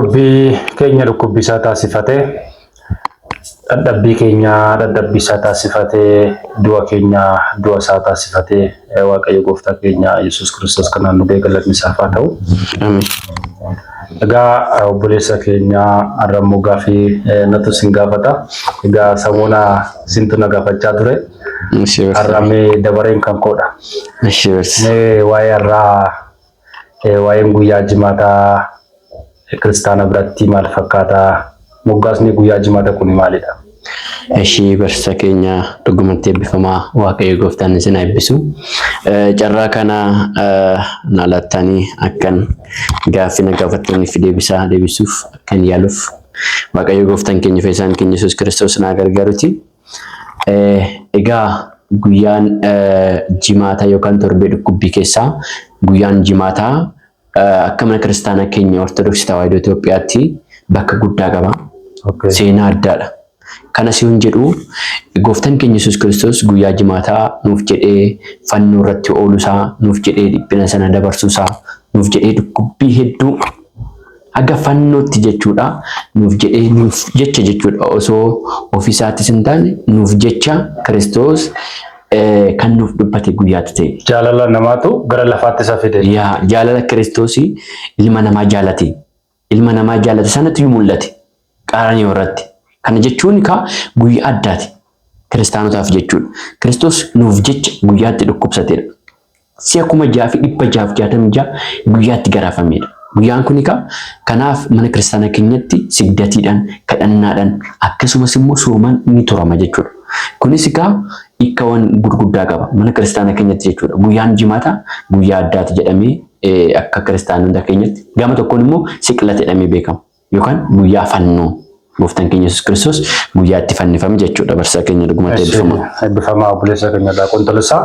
Dhukkubbii keenya dhukkubbisaa taasifate, dhadhabbii keenya dhadhabbisaa taasifate, du'a keenya du'a isaa taasifate Waaqayyo gooftaa keenya Yesuus Kiristoos kanaan nu ga'e galatni isaaf haa ta'u. Egaa obboleessa keenya har'ammoo gaaffii natu isin gaafata. Egaa samuuna isintu na gaafachaa ture. Har'amee dabareen kan koodha. Mee waa'ee har'aa Eh, Waa'een guyyaa jimaataa eh, kiristaana biratti maal fakkaata? Moggaasni guyyaa jimaata kuni maalidha? Ishii barsiisaa keenya dhugumatti eebbifamaa waaqayyo gooftaan isin haa eebbisu. Eh, Carraa kana eh, na laattanii akkan gaaffii na gaafattaniif deebisaa deebisuuf akkan yaaluuf waaqayyo gooftaan keenya fayyisaan keenya Yesuus Kiristoos na gargaaruti. Egaa guyyaan jimaata yookaan torbee dhukkubbii keessaa guyyaan jimaataa akka mana kiristaanaa keenya Ortodoksii Tawaahidoo Itoophiyaatti bakka guddaa qaba. Okay. Seenaa addaadha. Kanas yoon jedhu gooftan keenya Yesuus Kiristoos guyyaa jimaataa nuuf jedhee fannoo irratti oolusaa, nuuf jedhee dhiphina sana dabarsuusaa, nuuf jedhee dhukkubbii hedduu Haga fannootti jechuudha. Nuuf jedhee nuuf jecha jechuudha. Osoo ofiisaattis hin taane nuuf jecha Kiristoos kan nuuf dubbate guyyaatti ta'e. Jaalala namaatu gara lafaatti isa fide. Yaa jaalala Kiristoos ilma namaa jaalate. Ilma namaa jaalate sanatti mul'ate. Qaraniyoo irratti. Kana jechuun kaa guyyaa addaati. Kiristaanotaaf jechuudha. Kiristoos nuuf jecha guyyaatti dhukkubsateedha. Si'a kuma ja'a fi dhibba jaaf jaatamii ja'a guyyaatti garaafameedha. Guyyaan kun kaa kanaaf mana kiristaana keenyatti sigdatiidhaan, kadhannaadhaan akkasumas immoo soomaan ni turama jechuudha. Kunis kaa ikkawan gurguddaa qaba mana kiristaana keenyatti jechuudha. Guyyaan jimaata guyyaa addaati jedhamee akka kiristaanota keenyatti gama tokkoon immoo siqilata jedhamee beekama. yookaan guyyaa fannoo gooftaan keenya Yesuus Kiristoos guyyaa itti fannifame jechuudha barsiisaa keenya dhugumatti eebbifama. Eebbifama obboleessa keenya irraa qontolosaa.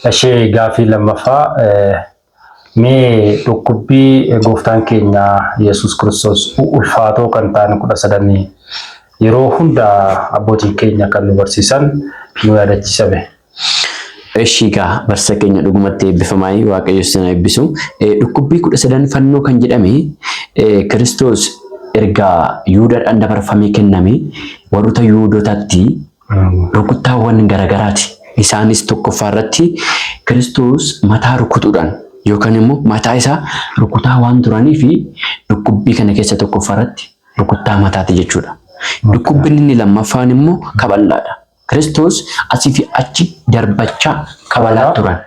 Ishee gaafii lammaffaa mee dhukkubbii gooftaan keenya Yesuus Kiristoos ulfaatoo kan ta'an kudha sadanii yeroo hunda abbootiin keenya kan nu barsiisan nu yaadachiisame. Eshii kaa barsa keenya dhugumatti eebbifamaayii waaqayyo isin haa eebbisu. Eh, Dhukkubbii kudha sadan fannoo kan jedhame eh, Kiristoos erga Yihudaadhaan dabarfamee kenname warroota Yihudootatti rukuttaawwan garagaraati. Isaanis tokkoffaa irratti Kiristoos mataa rukutuudhaan yookaan immoo mataa isaa rukutaa waan turanii fi dhukkubbii kana keessa tokkoffaa irratti rukuttaa mataati jechuudha. Dhukkubbiin inni lammaffaan immoo kabal'aadha. Kiristoos asii fi achi darbachaa kabalaa turan.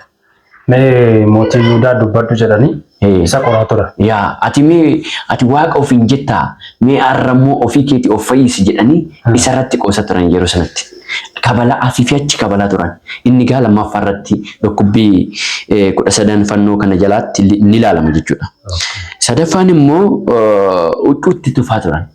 Mee mootii Yihudaa dubbadhu jedhanii Ee. isa qoraa turan. Yaa ati mee ati waaqa ofiin jettaa mee har'a immoo ofii keetii of fayyisi jedhanii isa irratti qoosa turan yeroo sanatti. Kabala asii fi achi kabalaa turan. Inni gaa lammaffaa irratti dhukkubbii eh, kudha sadan fannoo kana jalaatti li- ni ilaalama jechuudha. Sadaffaan immoo eh, huccuutti tufaa turan.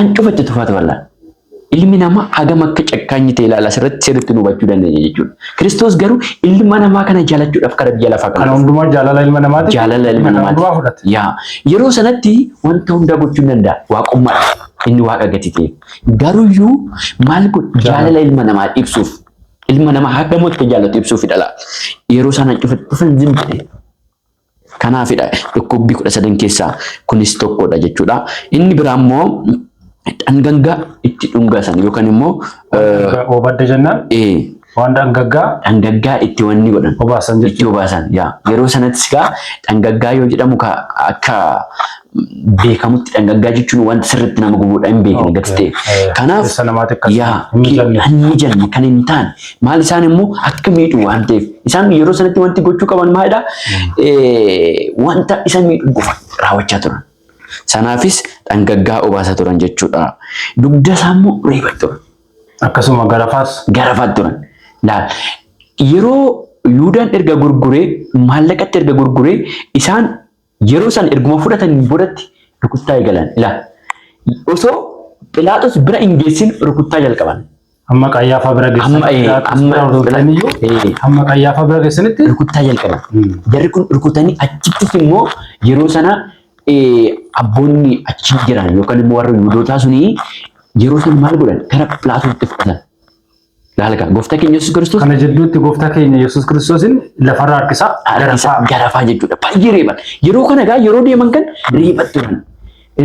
An cufa itti tufata wallah. Ilmi namaa hagam akka cakkaanyi ta'e ilaala asirratti sirriitti nu hubachuu dandeenya jechuudha. Kiristoos garuu ilma namaa kana jaalachuudhaaf kara biyya lafaa kana Kana dhufe. hundumaa jaalala ilma namaati. Jaalala ilma Kana hundumaa namaati. fudhate. Yaa yeroo sanatti wanta hundaa gochuu hin danda'a. Waaqummaadha. Inni waaqa gati ta'e. Garuyyuu maal godhu jaalala ilma namaa ibsuuf ilma namaa hagam akka jaallatu ibsuuf dhala. Yeroo sana cufa dhufan zim jedhe. Kanaafidha dhukkubbii kudha sadan keessaa kunis tokkodha jechuudha. Inni biraa immoo dhangaggaa itti dhungasan yookaan immoo Oobadda jennaan waan dhangaggaa dhangaggaa itti wanni godhan obaasan itti jechuudha. obaasan yaa yeroo sanattis gaa dhangaggaa yoo jedhamu ka akka beekamutti dhangaggaa jechuun wanta sirriitti nama gubuudha hin beekne gati ta'e. Kanaaf Keessa namaatti akka yaa hin mijanne. hin mijanne kan hin taane maal isaan immoo akka miidhu waan ta'eef isaan yeroo sanatti wanti gochuu qaban maalidha Eh, wanta isa miidhu qofa raawwachaa turan. Sanaafis dhangaggaa obaasaa turan jechuudha. Dugda isaa immoo reebaa turan. Akkasuma garafaas garafaa turan. Laal yeroo Yuudaan erga gurguree maallaqatti erga gurguree isaan Yeroo san erguma fudhataniin boodatti rukuttaa eegalan. Ila. Osoo Philaaxos bira hin geessin rukuttaa jalqaban. Amma Qayyaafaa bira geessan. Amma ee, Philaaxos amma bira osoo hin Phila- ga'iyyuu, ee. Amma Qayyaafaa bira geessanitti rukuttaa jalqaban. Mm. Jarri kun rukutanii achittis immoo yeroo sana eh, abboonni achi jiran yookaan immoo warri Yihudootaa suni yeroo sana maal godhan gara Philaatoositti fudhatan. Laalga gooftaa keenya Yesuus Kiristoos Kana jidduutti gooftaa keenya Yesuus Kiristoosin lafarra harkisaa harkisaa garafaa. garafaa jechuudha. Baay'ee reeban. Yeroo kana egaa yeroo deeman kan reeba turan.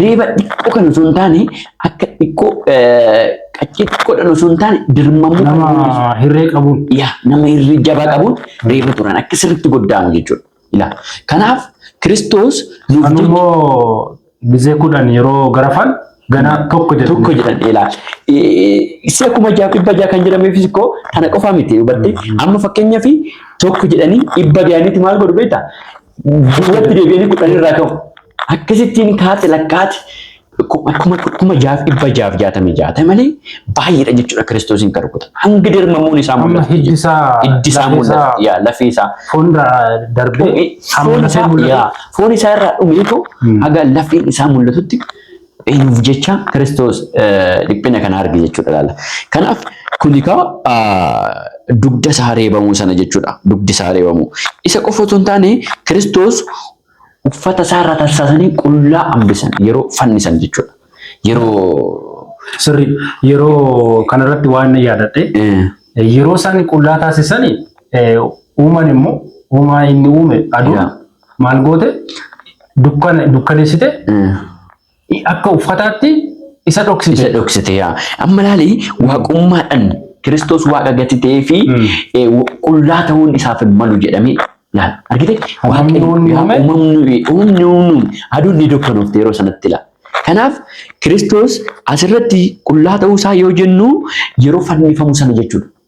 Reeba xiqqoo kan osoo hin taane akka xiqqoo eh, qaccee xiqqoodhaan osoo hin taane dirmamuu kan mul'isu. Nama hirree qabuun. yaa nama irri jabaa qabuun reeba turan akka sirriitti goddaanu jechuudha. Ilaala. Kanaaf Kiristoos nuuf Kan jecha immoo mizee kudhan yeroo garafan ganaa tokko jedhu. tokko jedhan ilaala. Isa kuma jaaf dhibba jaha kan jedhameefis ikkoo kana qofaa miti hubattee amma fakkeenyaaf tokko jedhanii dhibba ga'anitti maal godhu beektaa? Duubatti deebi'anii kudhan irraa ka'u. Akkasittiin kaate lakkaati kuma jaaf dhibba jaaf jaatamii jaha ta'e malee baay'eedha jechuudha kiristoosiin kan rukutan. Hanga dirmamuun isaa Amma mul'atu. hiddi isaa Hiddi isaa lafee isaa mul'atu. Yaa lafee isaa. fuulduraa darbee Dhumee hamma foon lafee isaa mul'atu. yaa, foon isaa irraa dhumeetu haga lafeen isaa mul'atutti eenyuuf jecha kiristoos eh, dhiphina kana arge jechuudha laala. Kanaaf kuni kaa dugda isaa reebamuu sana jechuudha. Dugdi isaa reebamuu. Isa qofa otoo hin taane kiristoos Uffata isaa irraa tarsaasanii qullaa hambisan yeroo fannisan jechuudha. Yeroo Sirri yeroo kanarratti waan na yaadadhe yeroo isaan qullaa taasisan uuman immoo uumaa inni uume aduun maal goote dukkaneessite Akka uffataatti isa dhoksite. Isa dhoksite yaa. Amma laali waaqummaadhaan Kiristoos waaqa gati ta'ee fi qullaa ta'uun isaaf hin malu jedhamee laal. Argite? Uumamni uumame. Uumamni uumamni aduun ni dukkanoofte yeroo sanatti laal. Kanaaf Kiristoos asirratti qullaa ta'uu isaa yoo jennu yeroo fannifamu sana jechuudha.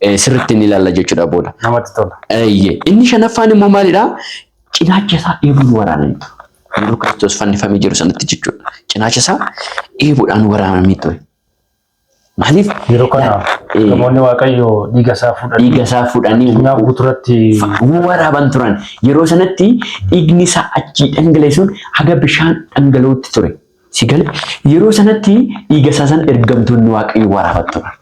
eh, sirriitti ni ilaalla jechuudha booda. Namatti tola. Eeyyee. Inni shanaffaan immoo maalidha? Cinaacha isaa eebuun waraananii ture. Yeroo Kiristoos fannifamee jiru sanatti jechuudha. Cinaacha isaa eebuudhaan waraananii ture. Maaliif? Yeroo kana Eh. namoonni Waaqayyoo dhiiga isaa fuudhanii Dhiiga isaa fuudhanii addunyaa guuturatti waraaban turan. Yeroo sanatti dhiigni isaa achii dhangala'eesuun haga bishaan dhangala'utti ture. Si gale yeroo sanatti dhiiga isaa san ergamtoonni waaqayyo waraaban turan.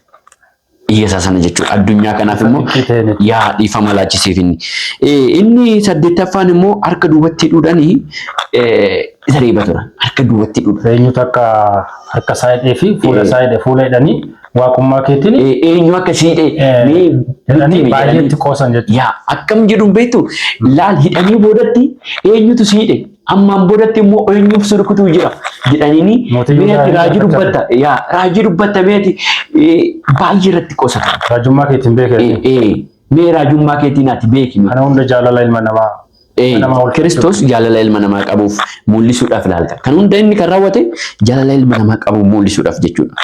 Biyya isaa sana jechuudha. Addunyaa kanaaf immoo Itti ta'e miti. yaa dhiifama laachiseef inni. Eh, Inni saddeettaffaan immoo harka duubatti hidhuudhaan isa reeba ture. Harka duubatti hidhuudha. Eenyutu akka harka isaa hidhee fi fuula isaa hidhe fuula hidhanii waaqummaa keetiin Eh, Eenyu akka si hidhe eh, mee jedhanii itti baay'ee jedhanii. itti qoosan jechuudha. Yaa akkam jedhu beektu laal hidhanii boodatti eenyutu si hidhe Ammaan boodatti immoo eenyuuf si rukutuu jira jedhaniini Mootii Yihudaa meeti raajii hin dubbatta yaa raajii dubbatta meeti eh, baay'ee irratti qosata. Raajummaa keetiin beekee. Eh, eh, Mee raajummaa keetiin ati beeki. Kana hunda jaalala ilma namaa. Eh, ilma namaa wal Kiristoos jaalala ilma namaa qabuuf mul'isuudhaaf ilaalta. Kan hunda inni kan raawwate jaalala ilma namaa qabuuf mul'isuudhaaf jechuudha.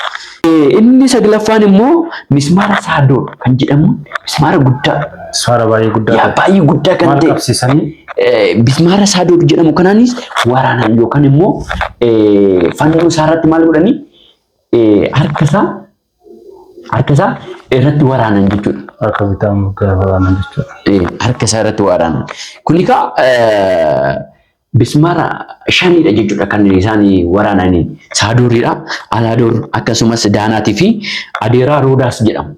Inni saglaffaan immoo mismaara saadoo kan jedhamu mismaara guddaa. Mismaara baay'ee guddaa. Yaa baay'ee guddaa kan ta'e. Maal qabsiisanii? Mismaara saadoo jedhamu kanaanis waraanaan yookaan immoo fannoo isaa irratti maal godhanii harka isaa harka isaa irratti waraanan jechuudha. Harka bitaa immoo gara waraanan jechuudha. Harka isaa irratti waraanan. Kun egaa Bismaara shanidha jechuudha kan isaan waraanani. Saadooridha. Alaadoor akkasumas Daanaatii fi Adeeraa Roodaas jedhamu.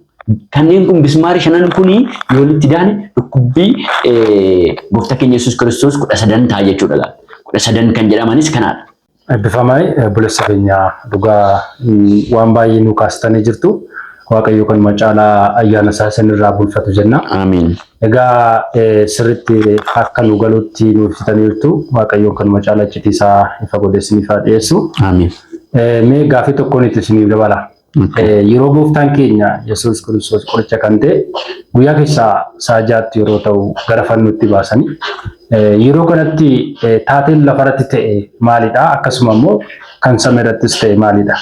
Kanneen kun bismaari shanan kun yoo walitti daane dhukkubbii gooftaa keenya Yesuus Kiristoos kudha sadan ta'a jechuudha. Kudha sadan kan jedhamanis kanaadha. Eebbifamaa obboleessa keenya dhugaa waan baay'ee nu kaastanii jirtu. Waaqayyo kanuma caalaa ayyaana isaa isinirraa bulfatu jenna. Amiin. Egaa sirriitti akka nu galutti nu ibsitanii jirtu. Waaqayyoon kanuma caalaa iccitii isaa ifa godhee isiniif haa dhiyeessu. Amiin. Mee gaafii tokkoon itti isiniif dabala. Yeroo gooftaan keenya Yesuus Kiristoos qoricha kan ta'e guyyaa keessaa sa'a jaatti yeroo ta'u gara fannootti baasanii yeroo kanatti taateen lafarratti ta'e maalidha? Akkasuma immoo kan samii irrattis ta'e maalidha?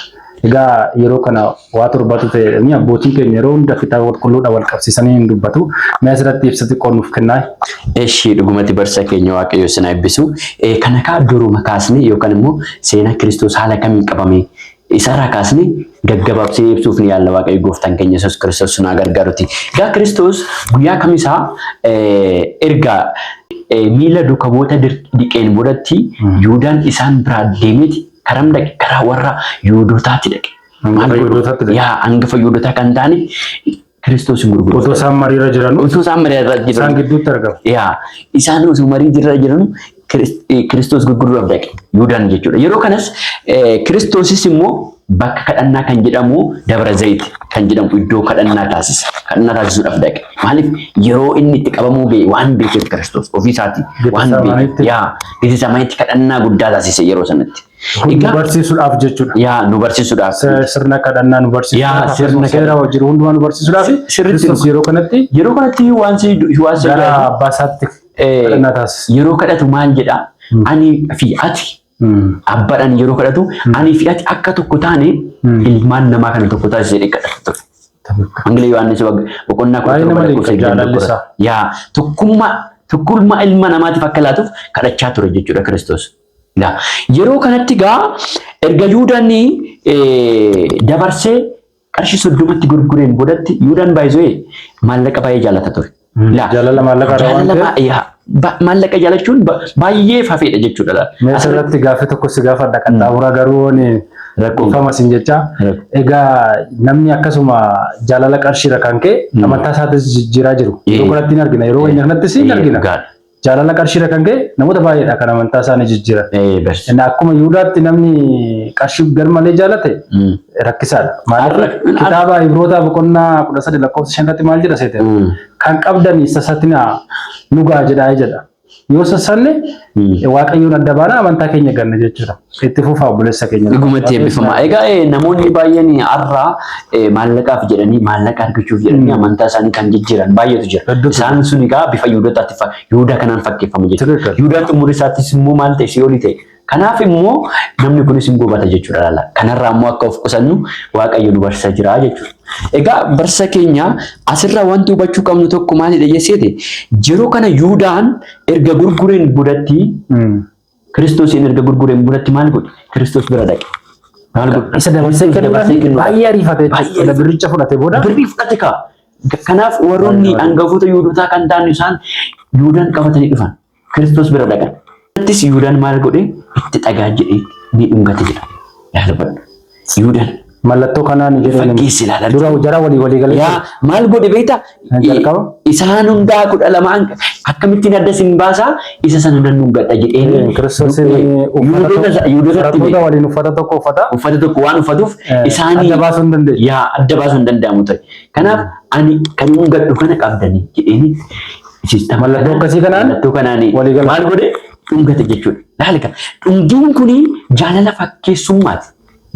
Egaa yeroo kana waa torbatu ta'e jedhanii abbootiin keenya yeroo hunda fixaa qulqulluudha wal qabsiisanii hin dubbatu. Mee asirratti ibsa xiqqoo nuuf kennaa. Eshi dhugumatti barsa keenya waaqayyo isin eebbisu. Kana kaa duruma kaasne yookaan immoo seenaa Kiristoos haala kamiin qabame Isaarraa kaasne gaggababsine ibsuuf ni yaalla Waaqayyo gooftaan keenya Yesuus Kiristoos sunaa gargaaruti. Egaa Kiristoos guyyaa kamisaa erga miila duuka bu'oota dhiqeen boodatti Yihuudaan isaan biraa deemeeti karam dhaqe karaa warra Yihuudootaatti dhaqe. Hangafa Yihuudootaatti dhaqe. Yaa hangafa Yihuudootaa kan ta'ani Kiristoos hin gurguru. Otoo isaan mariirra jiran Utuu isaan marii irra isaan jiran. gidduutti argama. Yaa isaan osoo marii jirra jiran Kiris- eh, Kiristoos gurguruudhaaf dhaqe. Yuudaan jechuudha. Yeroo kanas eh, Kiristoosis immoo bakka kadhannaa kan jedhamu Dabra Zayit kan jedhamu iddoo kadhannaa taasisa. Kadhannaa taasisuudhaaf dhaqe. Maaliif yeroo inni itti qabamuu ga'e waan beekeef Kiristoos ofii isaatii waan Getesamaneetti. beekeef. Yaa Getesamaneetti kadhannaa guddaa taasise yeroo sanatti. Kun Egaa- barsiisuudhaaf jechuudha. yaa nu barsiisuudhaaf Se- Sirna kadhannaa nu Yaa, barsiisuudhaaf sirna akkasumas seera kadhannaa. wajjin hundumaa nu barsiisuudhaaf Si- sirriitti Kiristoos nu- yeroo kanatti yeroo kanatti waan si waan si gara ajaa'ibu, abbaa isaatti eh, kadhannaa taasisa. yeroo kadhatu maal jedha ani fi ati Mm. abbaadhaan yeroo kadhatu ani fi ati akka tokko taane ilmaan namaa kana tokko taasise jedhee kadhata ture. Wangeela Yohaannis bag- boqonnaa kudha Baay'ee torba nama lakkoofsa dinqa, jaalalli 21. isaa. Yaa tokkummaa tokkummaa ilma namaatiif akka laatuuf kadhachaa ture jechuudha Kiristoos. dha. Yeroo kanatti egaa erga Yuudaan dabarsee qarshii soddomatti gurgureen boodatti Yuudaan baay'isee maallaqa baay'ee jaalata ture. Laa. Jaalala maallaqa irraa waan Jaalala ta'eef. baay'ee ba- maallaqa jaalachuun ba- baay'ee fafeedha jechuudha. laa. Mee asirratti gaaffii tokko si gaafadha qaxxaamuraa garuu waan Rakkoo. dhiifama siin jecha. Rakkoo. Egaa namni akkasuma jaalala qarshiirra kan ka'e amantaa isaatis jijjiiraa jiru. Yeroo Eh. kanatti hin argina. Yeroo keenya kanattis hin Eh, argina. dhugaadha. Jaalala qarshiirra kan ka'e namoota baay'eedha kan amantaa isaanii jijjiiran. Eh, bar. Inni akkuma Yihudaatti namni qarshii garmalee jaalate Mm. rakkisaadha. Maaliif Arra- kitaaba Ibrootaa boqonnaa 13 lakkoofsa 5 irratti maal jedha seete? Mm. Kan qabdan sasatinaa nugaa jedhaa jedha. Yoo sasanne Mm. waaqayyoon adda baana amantaa keenya ganna jechuudha. Itti fufaa obboleessa keenya. Dhugumatti eebbifamaa. Egaa eh, namoonni baay'een har'aa eh, maallaqaaf jedhanii maallaqa argachuuf jedhanii Mm. amantaa isaanii kan jijjiiran baay'eetu jira. Hedduutu Isaan sun egaa bifa Yihuudotaatti fa- Yihuudaa kanaan fakkeeffama jechuudha. Tilirkan. Yihuudaan xumuri isaattis immoo maal ta'e si'oolii ta'e. Kanaaf immoo namni kunis hin gubata jechuudha laala. Kanarraa immoo akka of qusannu Waaqayyo nu barsiisaa jira jechuudha. Egaa barsiisa keenya asirraa wanti hubachuu qabnu tokko maalidha jennee yeroo kana Yihuudaan erga gurgureen boodatti Mm. Kiristoosiin erga gurgureen bulatti maal godhe? Kiristoos bira dhaqe. Maal godhe? Isa dabarsee dabarsee kennuudhaan baay'ee ariifate Baay'ee jechuudha. ariifate. Birricha fudhate booda Birrii fudhate kaa. Kanaaf warroonni Baay'ee. hangafoota Yihudotaa kan ta'an isaan Yihudaan qabatanii dhufan. Kiristoos bira dhaqan. Kanattis Yihudaan maal godhe? Itti dhagaa jedhee ni dhungate jedha. Yaa dubbadhu. Yuudan. Mallattoo kanaa ni jedhee Fakkeessi ilaala. Dura jara walii walii galee. Yaa maal godhe beekta? Kan jalqaba? Isaan hundaa kudha lamaan akkamittiin adda sin baasaa isa sana nan dhungadha jedheen. Kiristoosiin Yuudota- Yuudotatti barattoota beeku. waliin uffata tokko uffata. uffata tokko waan uffatuuf Eh, isaanii adda baasuu hin dandeenye. yaa adda baasuu hin danda'amu ture. Kanaaf ani kan dhungadhu kana qabdanii jedheenis. Mallattoo akkasii kanaan mallattoo kanaan walii gala. maal godhe dhungate jechuudha. Laalika dhungiin kun jaalala fakkeessummaati.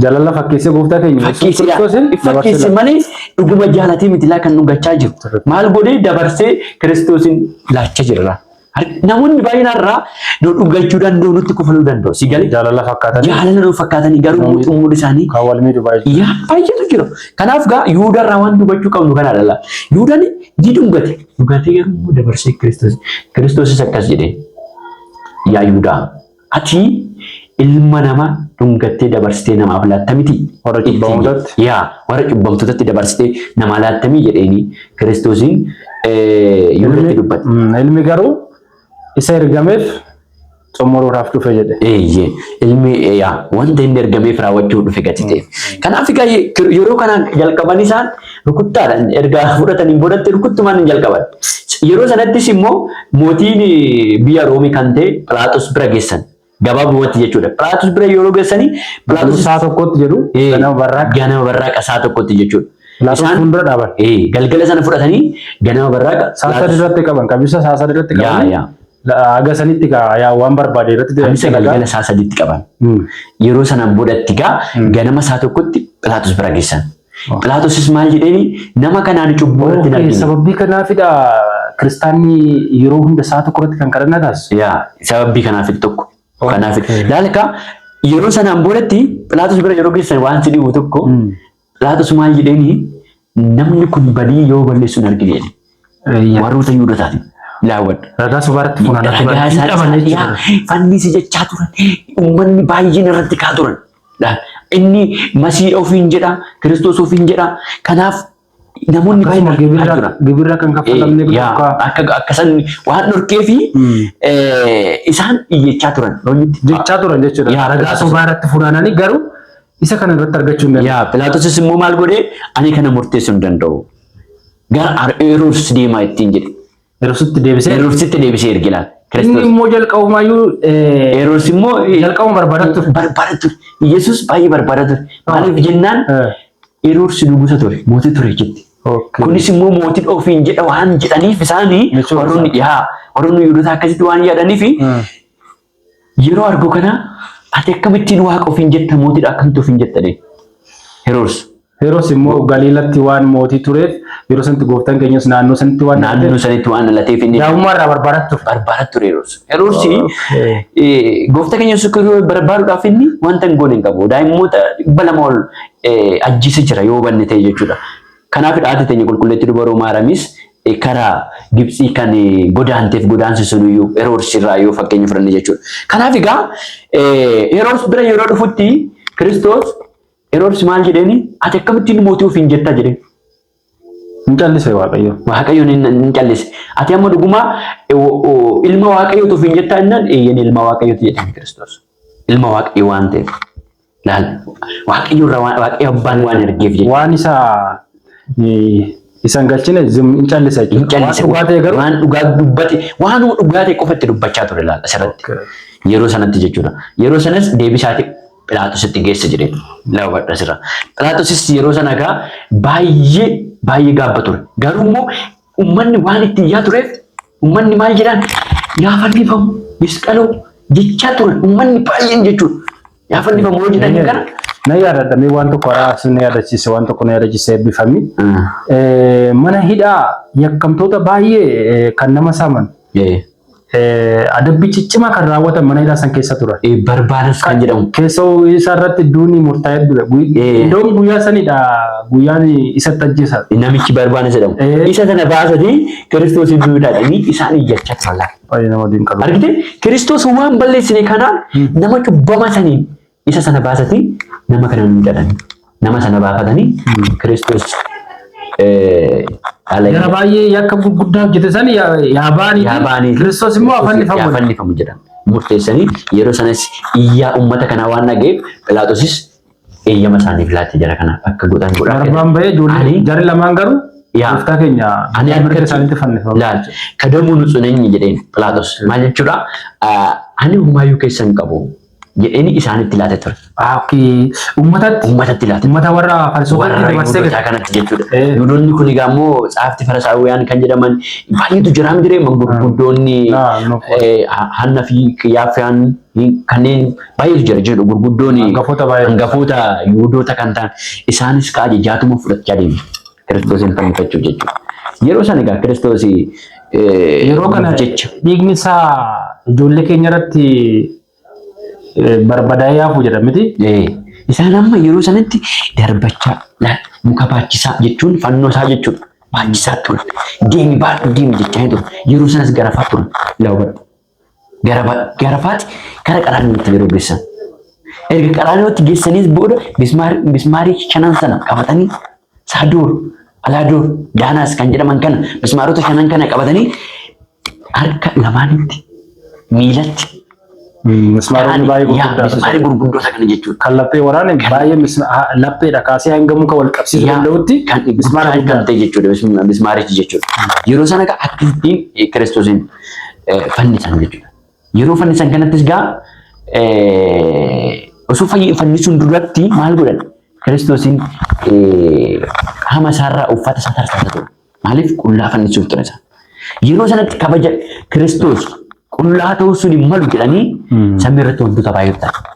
Jaalala fakkeessee gooftaa keenya Yesuus Kiristoosin fakkeesse malee dhuguma jaalatee miti laa kan dhungachaa jiru. Maal godhee dabarsee Kiristoosin laachaa jira. Namoonni baay'een har'aa nu dhungachuu danda'u nutti kufaluu danda'u. Si galee jaalala fakkaatanii jaalala nu fakkaatanii garuu muuxummuun isaanii kan wal miidhu baay'ee yaa baay'eetu jira. Kanaaf gaa Yihudaa irraa waan hubachuu qabnu kana dhala. Yihudaan ni dhungate. Dhugaatee garuu immoo dabarsee Kiristoos. Kiristoosis akkas jedhee yaa Yihudaa ati ilma nama dhungattee dabarsitee namaaf laatta miti warra cubbamootatti yaa warra cubbamtootatti dabarsitee namaa laatta miti jedheeni Kiristoosiin Yihudaatti dubbate. Ilmi garuu Isa ergameef xumuruudhaaf dhufe jedhe. Eeyyee, ilmi yaa wanta inni ergameef raawwachuuf dhufe gati ta'e. Kanaaf egaa ye- kir- yeroo kana jalqaban isaan rukuttaadhaan erga fudhataniin boodatti rukuttumaan hin jalqaban. Yeroo sanattis immoo mootiin biyya Roomii kan ta'e Philaaxos bira geessan. Gabaabumatti jechuudha. Piraatus bira yeroo geessanii Piraatus Piraatus isaa tokkotti jedhu ee, ganama barraaqqa. ganama barraaqa isaa tokkotti jechuudha. Pilaatus Isaan- fuuldura dhaaban. ee, galgala sana fudhatanii ganama barraaqa Saasad Pilaatus- irratti qaban qabisa saasad irratti Yaa, qaban. yaa. Haga sanitti kaa yaa waan barbaade irratti Kamisa galgala isaa sadiitti qaban. Mm. Yeroo sana boodatti gaa ganama isaa tokkotti Pilaatus bira geessan. Philaatosis maal jedheeni nama kanaan cubbuu irratti hin argine. Sababbii kanaafidha kiristaanni yeroo hunda isaa tokko irratti kan kadhannaa taasisu. Yaa sababbii kanaafidha tokko. Kanaaf laalka yeroo sanaan boodatti Philaatos bira yeroo geessan waan si dhibu tokko Philaatos maal jedheeni namni kun badii yoo balleessu hin argine. Warroota Yihuudotaatiin laawwadha. Ragaa sobaa irratti funaanaa turan. Ragaa isaa Hidhaman isaa jechuudha. dhiyaa fannisi jechaa turan. Uummanni baay'een irratti ka'aa turan. Dha. Inni masiidha ofiin jedha, kiristoos ofiin jedha. Kanaaf namoonni baay'een Akkasuma irratti ka'aa gibirra turan. gibirra kan kaffalamne Eh, yaa, bakka Akka akka san waan dhorkee fi eh, isaan iyyachaa turan. Loonitti jechaa turan jechuudha. Yaa, Ragaa akkasuma. sobaa irratti funaananii garuu isa kana irratti argachuu hin dandeenye. Yaa Pilaatos immoo maal godhee ani kana murteessuu hin danda'u. Gara Ar- Heroodis deemaa ittiin jedhe. Yerositti deebisee Heroodisitti deebisee erge laata? inni Kiristoos. immoo jalqabumayyuu eh, Heroodis immoo eh, jalqabuma barbaada ture. barbaada ture. Yesuus baay'ee barbaada ture. Maaliif jennaan Eh, Heroodis nugusa ture, mootii ture jetti. okay. Kunis immoo mootiin ofiin jedha waan jedhaniif isaanii Jechuun warroonni isaa. yaa warroonni Yihudoota akkasitti waan yaadaniif Mm. Yeroo argu kana ati akkamittiin waaqa ofiin jetta mootiidha akkamitti ofiin jetta jedheen. Heroos. Heroos immoo Galiilatti waan mootii tureef yeroo sanatti gooftaan keenyas naannoo sanatti waan naannoo sanitti waan dhalateef inni daa'ummaa irraa barbaadaa ture. Barbaadaa ture Heroos. Heroos gooftaa keenya Yesuus Kiristoos barbaaduudhaaf inni wanta hin goone hin qabu. Daa'immoota dhibba lama ol ajjeese jira yoo hubanne ta'e jechuudha. Kanaaf haati teenya qulqulleetti dubaroo Maaraamis kara Gibtsii kan godaanteef godaansi suniyyuu Heroodis irraa yoo fakkeenya fudhanne jechuudha. Kanaaf egaa Heroodis bira yeroo dhufutti Kiristoos Heroodis maal jedheeni ati akkamittiin mootii ofiin jettaa jedheen. Hin callise Waaqayyo. Waaqayyoon hin callise. Ati amma dhugumaa ilma Waaqayyooti ofiin jettaa jennaan eeyyeen ilma Waaqayyooti jedheen Kiristoos. Ilma Waaqayyo waan ta'eef. Laal waaqayyo irraa waan waaqayyo abbaan waan ergeef jechuudha. Waan isa eh, isan galchine zim hin callisa Hin jechuudha. Waan callise dhugaa ta'e garuu. waan dhugaa dubbate waanuma dhugaa ta'e qofa itti dubbachaa ture laal asirratti. Okay. Yeroo sanatti jechuudha. Yeroo sanas deebisaati Philaatositti geessa jedhe laawwadha asirra. Philaatosis yeroo sana egaa baay'ee baay'ee gaabba ture. Garuu immoo Ummanni waan itti iyyaa tureef ummanni maal jedhaan yaa fannifamu misqaloo jechaa turan ummanni baay'een jechuudha. Yaa fannifamu yoo jedhan kana. Na yaadadha mee waan tokko haraa asii na yaadachiise waan tokko na yaadachiise eebbifami. Mana hidhaa yakkamtoota baay'ee kan nama saaman adabbii ciccimaa kan raawwatan mana hidhaa san keessa turan. Eh, Barbaadus kan jedhamu. Keessoo isa irratti duuni murtaa'ee dura. Eh. Iddoon guyyaa sanidha guyyaan isatti ajjeesan. Namichi barbaadus jedhamu. Eh. Isa kana baasanii Kiristoos iddoo hidhaadhanii isaan iyyachaa turan laata. Baay'ee nama dinqalu. Argite Kiristoos waan balleessine kanaan nama cubbama saniin Isa sana baasati nama kana nu jedhan. Nama sana baafatanii Kiristoos eh, dhala Gara baay'ee yakka gurguddaa hojjete san yaa yaa baanii yaa baanii fi Kiristoos immoo afaan Kiristoos yaa nifamu. fannifamu jedhan. Murteessanii yeroo sanas iyyaa uummata kanaa waan dhageef Philaatosis eeyyama isaaniif laatti jara kana akka godhan godhaa Darbaan bahee ijoollee Ani- jarri lamaan garuu Yaa. gooftaa keenya Ani mirga harkatti- isaaniitti fannifamu. Laal, kadamuu nu tsuneenyi jedheen Philaatoos. Maal jechuudha? Ah, Ani humaayyuu keessa hin qabu. jedheni isaanitti laate ture. Ah, okay. Ummatatti. Ummatatti laate. Ummata warra falsoofatti Warra dabarsee Yihudotaa gate. kanatti jechuudha. Eh. Yihudoonni kun egaa immoo tsaafti Farisaawiyaan kan jedhaman baay'eetu jira hin jiree gurguddoonni Ah, no. eh, ha- Hanna fi Qiyaaffiyaan kanneen baay'eetu jira jechuudha. Gurguddoonni Hangafoota baay'ee. hangafoota Yihudoota kan ta'an isaanis kaa jechaatuma fudhachaa deemu. Kiristoosiin fannifachuuf jechuudha. Yeroo sana egaa Kiristoosii Yeroo kana jecha dhiigni isaa ijoollee keenya irratti eh, barbadaa'ee hafu jedha miti. Eh, isaan amma yeroo sanatti darbachaa laal, muka baachisaa jechuun fannoo isaa jechuudha. Baachisaa ture. Deemi baadhu deemi jechaa hin ture. Yeroo sanas garafaa ture. Laawwadhu. garafaati kara qaraaniyootti yeroo geessan. Erga qaraaniyootti geessaniis booda mismaarii shanan sana qabatanii saaduur, alaaduur, daanaas kan jedhaman kana mismaarota shanan kana qabatanii harka lamaanitti miilatti Mismaaronni baay'ee gurguddaa mismaarii gurguddoota kana jechuudha. Kan laphee waraane baay'ee lapheedha kaasee hanga muka wal qabsiisuu danda'utti kan mismaara guddaa ta'e jechuudha mismaarichi jechuudha. Yeroo sana akka ittiin kiristoosiin fannisan jechuudha. Yeroo fannisan kanattis gaa osoo fannisuun duratti maal godhan? Kiristoosiin qaama isaarraa uffata isaa tarsaasa ture. Maaliif qullaa fannisuuf ture isaa. Yeroo sanatti kabaja Kiristoos qullaa ta'uu sun hin malu jedhanii samii irratti wantoota baay'ee ta'an.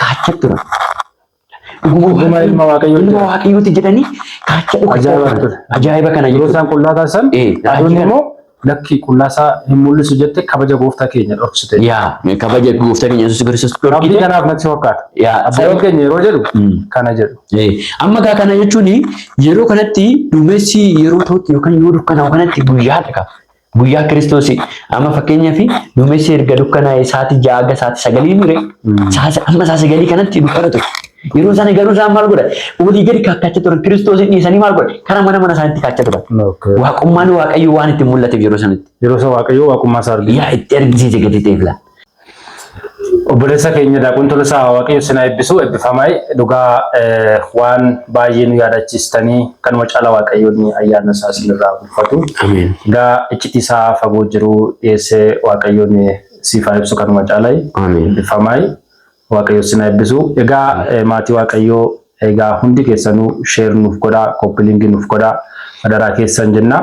kaachaa ture. Dhuguma ilma waaqayyoo ilma waaqayyooti jedhanii kaachaa dhukasaa ajaa'iba kana yeroo isaan qullaa taasisan aduun immoo lakki qullaasaa hin mul'isu jette kabaja gooftaa keenya dhoksite. Yaa kabaja gooftaa keenya Yesuus Kiristoos dhoksite. Rabbi kanaaf natti fakkaata. Yaa sababa keenya yeroo jedhu hmm. kana jedhu. Amma gaa kana jechuun yeroo kanatti duumessi yeroo ta'utti yookaan yoo dukkanaa'u kanatti guyyaa dhaqa. Guyyaa Kiristoosii amma fakkeenyaaf duumessi erga dukkanaa'e sa'aatii ja'a hanga sa'aatii sagalii mure amma sa'aatii sagalii kanatti dukkana ture. Yeroo sana garuu isaan maal godhan? Olii gadi kaakkacha turan Kiristoosiin dhiisanii maal godhan? Karaa mana mana isaaniitti kaachaa turan. Waaqummaan Waaqayyoo waan itti mul'ateef yeroo sanatti. Yeroo sana Waaqayyoo waaqummaa isaa argina. Yaa itti argisiise gadi ta'eef laa. Obboleessa keenya Daaqun Tolosaa Waaqayyo sinaa eebbisu eebbifamaa dhugaa waan baay'ee nu yaadachiistanii kanuma caala Waaqayyoon ayyaana isaa sinirraa bulfatu. Egaa iccitii isaa fagoo jiru dhiyeessee Waaqayyoon siif haa ibsu kanuma caala eebbifamaa Waaqayyo sinaa eebbisu. Egaa maatii Waaqayyoo egaa hundi keessanuu sheer nuuf godhaa kooppilingi nuuf godhaa adaraa keessan jennaa.